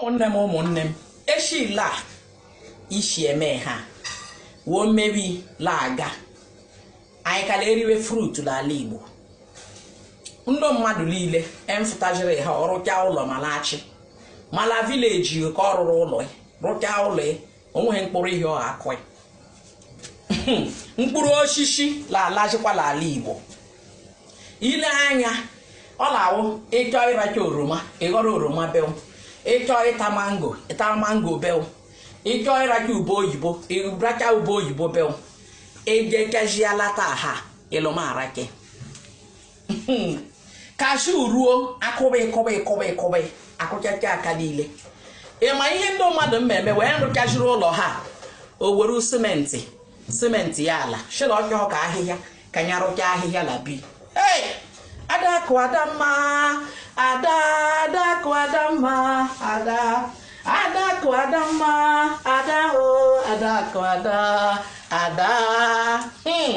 ụmụnne m ụmụnne m eshila ishi eme ha woo mmebi la aga anyị kala eriwe fruit n'ala igbo ndị mmadụ niile emfụtajiri ha ọrụcha ụlọ ma lachi ma la village ka ọ rụrụ ụlọ rụcha ụlọ o nweghị mkpụrụ ihe ọ akụghị mkpụrụ osisi lalazikwa n'ala igbo ile anya ọ na-awụ ị chọọ ịracha oroma ị ghọrọ oroma bew ị chọọ ịta mango ị taa mango bew ị chọọ ịracha ube oyibo ị racha ube oyibo bew ejekeziela taa ha ịlụmarake cashew ruo akụba ịkụba ịkụba ịkụba akụchacha aka niile ịma ihe ndị mmadụ mmemme wee rụchaziri ụlọ ha o were cement cementia ala shị la ọ chọọ ka ahịhịa ka ya rụcha ahịhịa la bi ee adakụ adamma ada adakụ adamma ada adakụ adamma ada o adakụ ada ada hmm.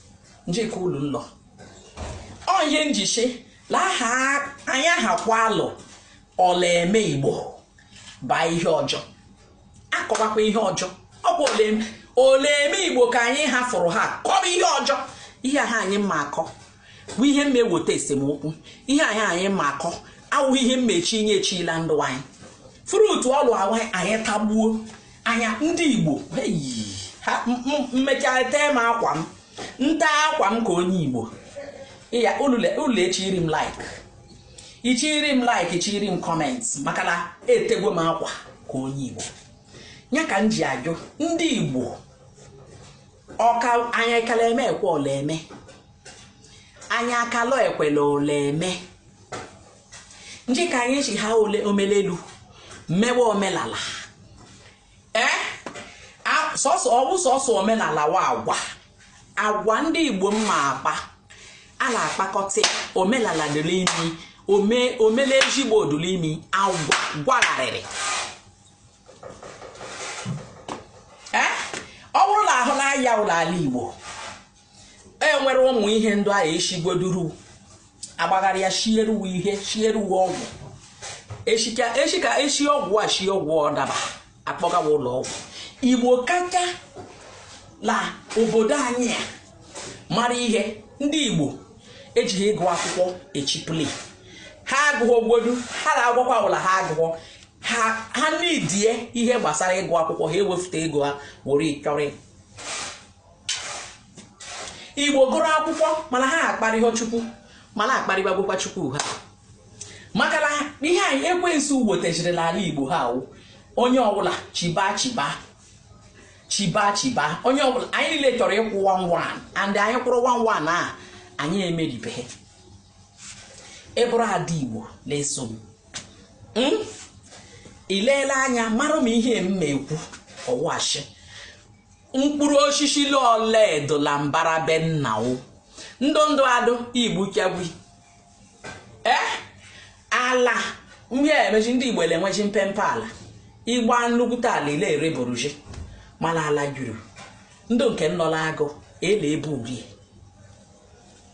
njikọ ụlọ ụlọ ọ ihe njichi na aha anyị aha kwa alụ ọ la-eme igbo baa ihe ọjọọ akọwakwa ihe ọjọọ ọ bụ ole eme igbo ka anyị hafụrụ ha kọrọ ihe ọjọọ ihe ha anyị mma akọ bụ ihe mma eweta esemokwu ihe anyị anyị mma akọ awụghị ihe mmechi inye echila ndụ anyị fruit ọlụ anyị tagbuo anya ndị igbo mmechaa tee m akwa m nta akwa m ka onye igbo ya ụlọ echiiri m like ichiri m like ichiri m comment maka na etegwo m akwa ka onye igbo ya ka m ji ajụ ndị igbo ọka anya ekele eme ekwe ọ la-eme anya akalọ ekwela ọ la-eme nji ka anyị ji ha ole omelelu mewe omelala ee eh? sọsọ ọwụ sọsọ omelala wa agwa agwa ndị igbo mma akpa a na-akpakọta omelala dị l'ime ome omele ezigbo dụ l'ime agwa gwagharịrị ee eh? ọ bụrụ na ahụ na-aya ụlọ ala igbo e nwere ụmụ ihe ndụ ahụ eshigweduru agbagharị ya shieruwe ihe shieruwe ọgwụ eshi ka eshi ọgwụ a shie ọgwụ ọ daba akpọgawa ụlọ ọgwụ igbo kacha la obodo anyị a mara ihe ndị igbo ejighị ịgụ akwụkwọ echipụli ha agụghị ogbodu ha na-agwakwa la ha agụghọ ha nidie ihe gbasara ịgụ akwụkwọ ha ewefute ego ha were ịchọrị igbo gụrụ akwụkwọ mana ha akparịghọ chukwu mana akparịbagokwa chukwu ha maka na ihe anyị ekwensu wetachiri n'ala igbo ha awụ onye ọbụla chiba chiba chiba chiba onye ọbụla anyị niile chọrọ ịkwụ one one and anyị kwụrụ one one a anyị emeribeghị ị bụrụ ada igbo na-eso m hmm? i leele anya mara m ihe m na-ekwu ọ wụ ashị mkpụrụ osisi ole dụ la mbara be nna wo ndụ ndụ adụ igbu kyagwi ee ala ndị a emechi ndị igbo elenwechi mpempe ala ịgba nnukwute ala ile ere boruji mana ala juru ndụ nke nọ la agụ ele ebe urie